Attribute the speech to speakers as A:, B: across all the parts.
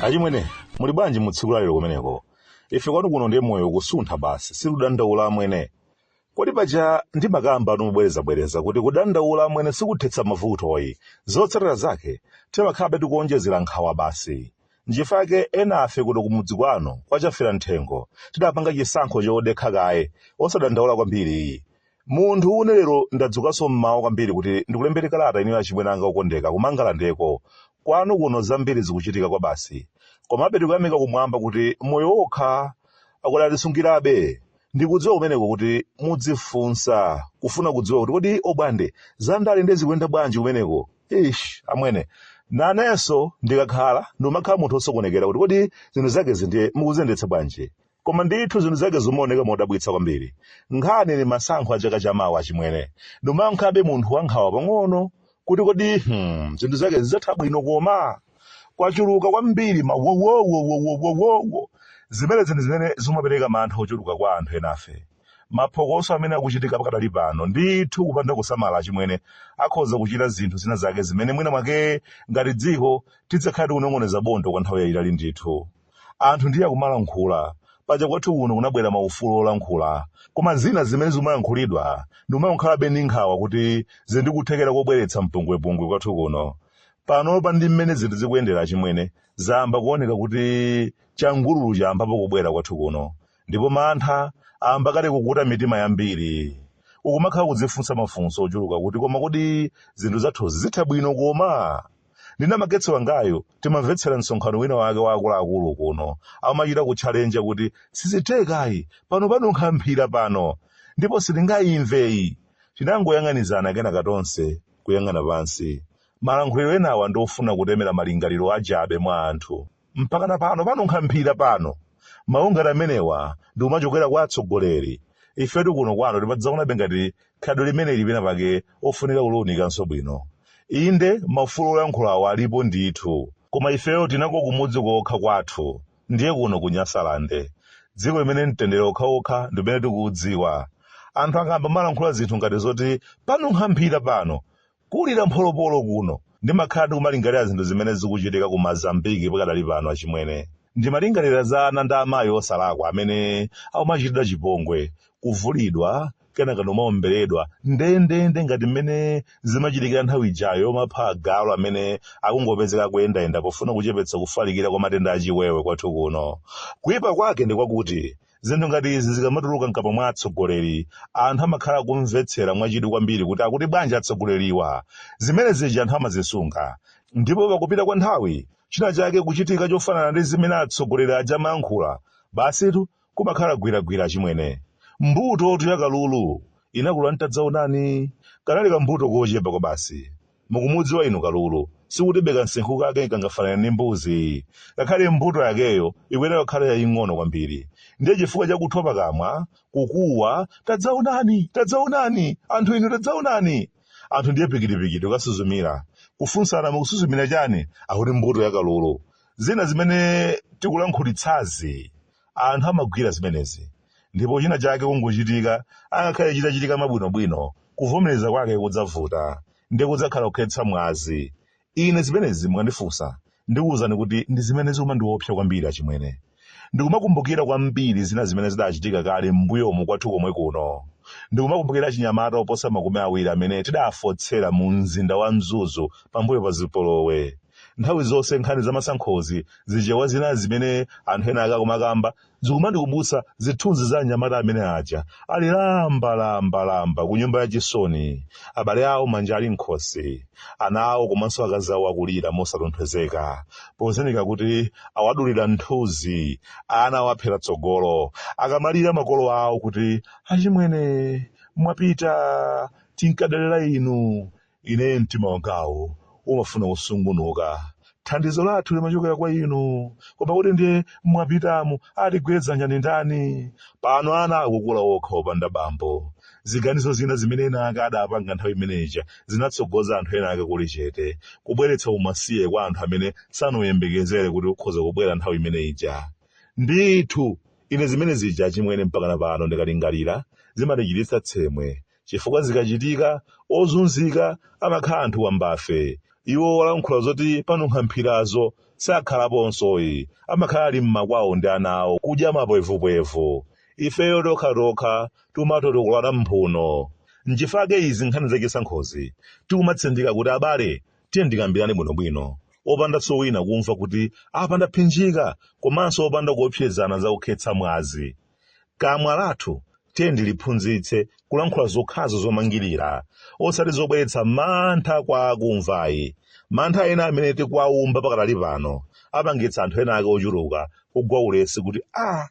A: achimwene muli bwanji mu tsiku lalero kumeneko ife kwanu kuno ndiye moyo kusuntha basi sikudandaula amwene kodi paja ndimakambatu mobwerezabwereza kuti kudandaula amwene sikuthetsa mavutoyi zotsatira zake timakhalabe tikuonjezera nkhawa basi Nchifake enafe kuno kumudzi kwanu kwa chafera mthengo tidapanga chisankho chodekha kaye osadandaula kwambiriyi. Munthu une lero ndadzukanso mmawa kwambiri kuti ndikulembereni kalata inuyo achimwene anga okondeka kumangalandeko. Kwanu kuno zambiri zikuchitika kwabasi. Komabe tikuyamika kumwamba kuti moyo okha akadatisungirabe. ndikudziwa kumeneko kuti mudzifunsa kufuna kudziwa kuti kodi obwande zandale nde zikuyenda bwanji kumeneko ish amwene nanenso ndikakhala ndimakhala munthu osokonekera kuti kodi zinthu zakezi ndiye mukuziyendetsa bwanji koma ndithu zinthu zake zimaoneka modabwitsa kwambiri nkhani ni masankho a chaka chamawa achimwene ndimakhalabe munthu wankhawa pang'ono kuti kodi hmm, zinthu zake zidzatha bwino koma kwachuluka kwambiri mawowowowowowowo zimene zinthu zimene zimapereka mantha ochuluka kwa anthu enafe maphokoso amene akuchitika pakadali pano ndithu kupanda kusamala achimwene akhoza kuchita zinthu zina zake zimene mwina mwake ngati dziko tidzakhala tikunong'oneza bondo kwa nthawi yayitali ndithu anthu ndiye akumalankhula paja kwathu kuno kunabwera maufulu olankhula koma zina zimene zikumalankhulidwa ndikumakhalabe ndi nkhawa kuti zili ndi kuthekera kobweretsa mpungwepungwe kwathu kuno panopa ndi mmene zinthu zikuyendera achimwene zayamba kuoneka kuti changululu chayambapo kubwera kwathu kuno Ndipo mantha ayamba kale kukuta mitima yambiri. Ukumakhala kudzifunsa mafunso ochuluka kuti koma kodi zinthu zathuzi zitha bwino koma? Ndi namagetsa wangayu timamvetsera msonkhano wina wake wa akuluakulu kuno amachita kutchalenja kuti sizithekayi pano panunkha mphira pano ndipo sitingayimveyi. Tinangoyang'anizana kenaka tonse kuyang'ana pansi. Malankhuliro enawa ndi ofuna kutemera malingaliro achabe mwa anthu. mpakana pano panunkha mphira pano mawu ngati amenewa ndi kumachokera kwa atsogoleri ifetu kuno kwanu timadzaonabe ngati khalidwe limeneli pena pake ofunika kuliunikanso bwino inde maufulu oyankhulawo alipo ndithu koma ifeyo tinakula kumudzi kokha kwathu ndiye kuno ku nyasalande dziko limene mtendere okhaokha ndi umene tikuudziwa anthu akayamba kumalankhula zinthu ngati zoti panunkha mphira pano Kulira mpholopolo kuno. Ndimakhala ndikumalingalira zinthu zimene zikuchitika ku Mozambiki pakadali pano achimwene. Ndimalingalira za ana ndi amayi osalakwa amene akumachitidwa chipongwe, kuvulidwa, kenaka ndikumawomberedwa, ndendende ngati mmene zimachitikira nthawi ijayo yomapha agalu amene akungopezeka akuyendayenda pofuna kuchepetsa kufalikira kwa matenda a chiwewe kwathu kuno. Kuipa kwake ndi kwakuti Zinthu ngati izi zikamatuluka m'kamwa mwa atsogoleri, anthu amakhala akumvetsera mwachidwi kwambiri kuti akuti bwanji atsogoleriwa. Zimene zija anthu amazisunga. Ndipo pakupita kwa nthawi, china chake kuchitika chofanana ndi zimene atsogoleri aja amayankhula, basitu, kumakhala gwiragwira achimwene. Mbutotu ya kalulu inakula n'tadzaonani. Kanali kambuto kochepa kwabasi. Mukumudziwa inu kalulu? Sikutibe kamsinkhu kake kangafanane ndi mbuzi. Ngakhale mbuto yakeyo ikuyenera kukhala yaying'ono kwambiri. Ndiye chifukwa cha kuthwa pakamwa, kukuwa, Tadzaonani! Tadzaonani! Anthu inu tadzaonani! Anthu ndiye pikitipikiti kukasuzumira. Kufunsana mukusuzumira chani? Akuti mbuto ya kalulu. Zina zimene tikulankhulitsazi Anthu amagwira zimenezi. Ndipo china chake kungochitika, angakhale chitachitika mwabwinobwino, kuvomereza kwake kudzavuta. Ndiye kudzakhala kukhetsa mwazi. Ine zimenezi mukandifunsa, ndikuwuzani kuti ndi zimene zikumandiwopsa kwambiri achimwene. Ndikumakumbukira kwambiri zina zimene zidachitika kale m'mbuyomu kwathu komwe kuno. Ndikumakumbukira achinyamata oposa makumi awiri amene tidafotsera mu mzinda wa Mzuzu pambuyo pa zipolowe. nthawi zonse nkhani za masankhozi zichewa zina zimene anthu ena ake akumakamba zikumandikumbutsa zithunzi za anyamata amene aja ali lamba lamba lamba ku nyumba ya chisoni abale awo manja ali m'khosi ana awo komanso akazi awo akulira mosatonthozeka pozindikira kuti awadulira mthunzi ana awaphera tsogolo akamalira makolo awo kuti achimwene mwapita tinkadalira inu Ine mtima wangawu umafuna kusungunuka. Thandizo lathu limachokera kwa inu. Koma kuti ndiye mwapitamu atigwire dzanja ndi ndani? Pano ana akukula okha opanda bambo. Ziganizo zina zimene ena ake adapanga nthawi imeneja zinatsogoza anthu ena ake kulichete, kubweretsa umasiye kwa anthu amene sanayembekezere kuti ukhoza kubwera nthawi imene ija. Ndithu, ine zimene zija achimwene mpakana pano ndikalingalira zimandichititsa tsemwe, chifukwa zikachitika ozunzika amakhala anthu wambafe iwo olankhula zoti panunkha mphirazo sakhalaponsoyi amakhala ali mmakwawo ndi ana awo kudya mapwevupwevu ifeyo tokhatokha timatotokolana mphuno nchifake izi nkhani zachisankhozi tikumatsindika kuti abale tiyeni tikambirane bwinobwino opandanso wina kumva kuti apa ndaphinjika komanso opanda kuopsezana za kukhetsa mwazi Kamwa lathu tiyeni tiliphunzitse kulankhula zokhazo zomangirira, osati zobweretsa mantha kwa akumva ayi. Mantha ena amene tikuwaumba pakadali pano apangitsa anthu ena ake ochuluka kugwa ulesi kuti a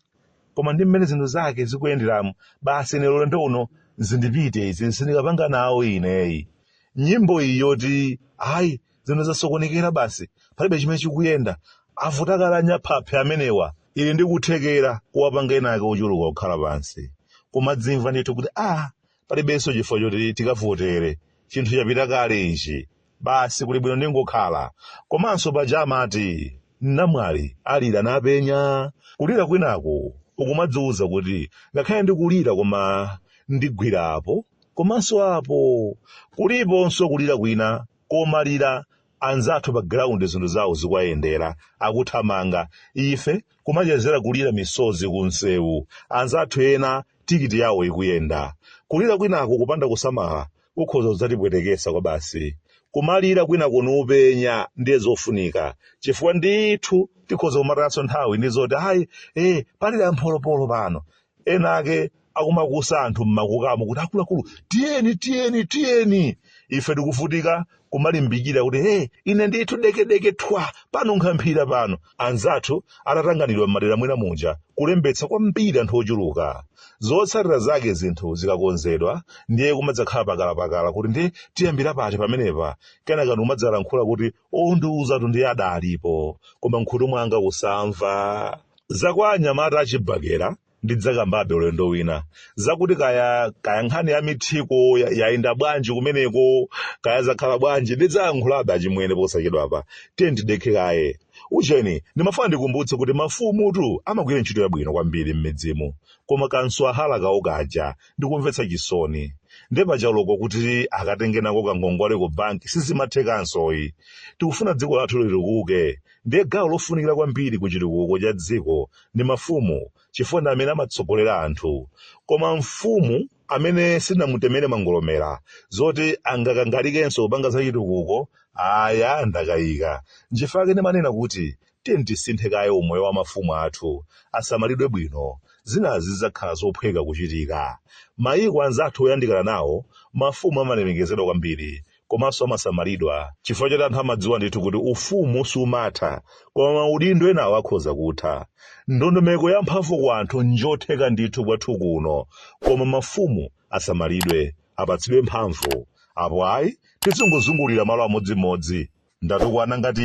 A: koma ndi mmene zinthu zake zikuyenderamu basi ine ulendo uno zindipite izi sindikapanga nawo ineyi. Nyimbo iyi yoti ayi zinthu zasokonekera basi palibe chimene chikuyenda avuta kale anyaphaphe amenewa ili ndi kuthekera kuwapanga ena ake ochuluka kukhala pansi kumadzimva ndithu kuti a palibenso chifukwa choti tikavotere chinthu chapita kale ichi basi kuli bwino ndingokhala komanso paja amati namwali alira napenya kulira kwinaku ukumadziwuza kuti ngakhale ndikulira koma ndigwira po komanso apo kuliponso kulira kwina komalira, anzathu pa ground zinthu zawo zikuwayendera akuthamanga ife kumachezera kulira misozi ku msewu anzathu ena tikiti yawo ikuyenda kulira kwinako kupanda kusamala kukhoza kudzatipwetekesa kwa basi kumalira kwinako nupenya ndiye zofunika chifukwa ndithu tikhoza kumatayaso nthawi ndi zoti ayi eh palira mpholopolo pano ena ake akumakusa anthu mmakukamo kuti akuluakulu tiyeni tiyeni tiyeni ife tikuvutika kumalimbikira kuti hey, ine ndithu dekedeke thwa pano nkhamphira pano anzathu atatanganidwa m'madera mwina muja kulembetsa kwambiri anthu ochuluka zotsatira zake zinthu zikakonzedwa ndiye kumadzakhala pakalapakala kuti ndiye tiyambira pati pamenepa kenaka ndikumadzalankhula kuti ondiuzatu ndiye adalipo koma mkhutu mwanga kusamva zakwa anyamata achibakera ndidzakambabe ulendo wina zakuti kaya kaya nkhani ya mithiko ya- yayenda bwanji kumeneko kaya zakhala bwanji ndidzayankhulabe achimwene posachedwapa tiye ndidekhe kaye ucheni ndimafuna ndikumbutse kuti mafumutu amagwira ntchito yabwino kwambiri m'midzimu koma kansowahala kawo kaja nkomvetsa chisoni nde pachaloko kuti akatengenako kangongole ku banki sizimathekanso ayi tikufuna dziko lathu litukuke ndiye gawo lofunikira kwambiri ku chitukuko cha dziko ndi mafumu chifukwa ndi amene amatsogolera anthu koma mfumu amene sinamutemere mangolomera zoti angakangalikenso kupanga za chitukuko aya ndakayika nchifukwa chake ndimanena kuti Tiyeni tisinthe kaye umoyo wa mafumu athu, asamalidwe bwino. Zinazi zidzakhala zophweka kuchitika. Mayiko anzathu oyandikana nawo, mafumu amalemekezedwa kwambiri komanso amasamalidwa chifukwa choti anthu amadziwa ndithu kuti ufumu sumatha, koma maudindo enawo akhoza kutha. Ndondomeko ya mphamvu kwa anthu n'njotheka ndithu kwathu kuno, koma mafumu asamalidwe, apatsidwe mphamvu. Apo ayi, tizingozungulira malo amodzimodzi. Ndatukwana ngati?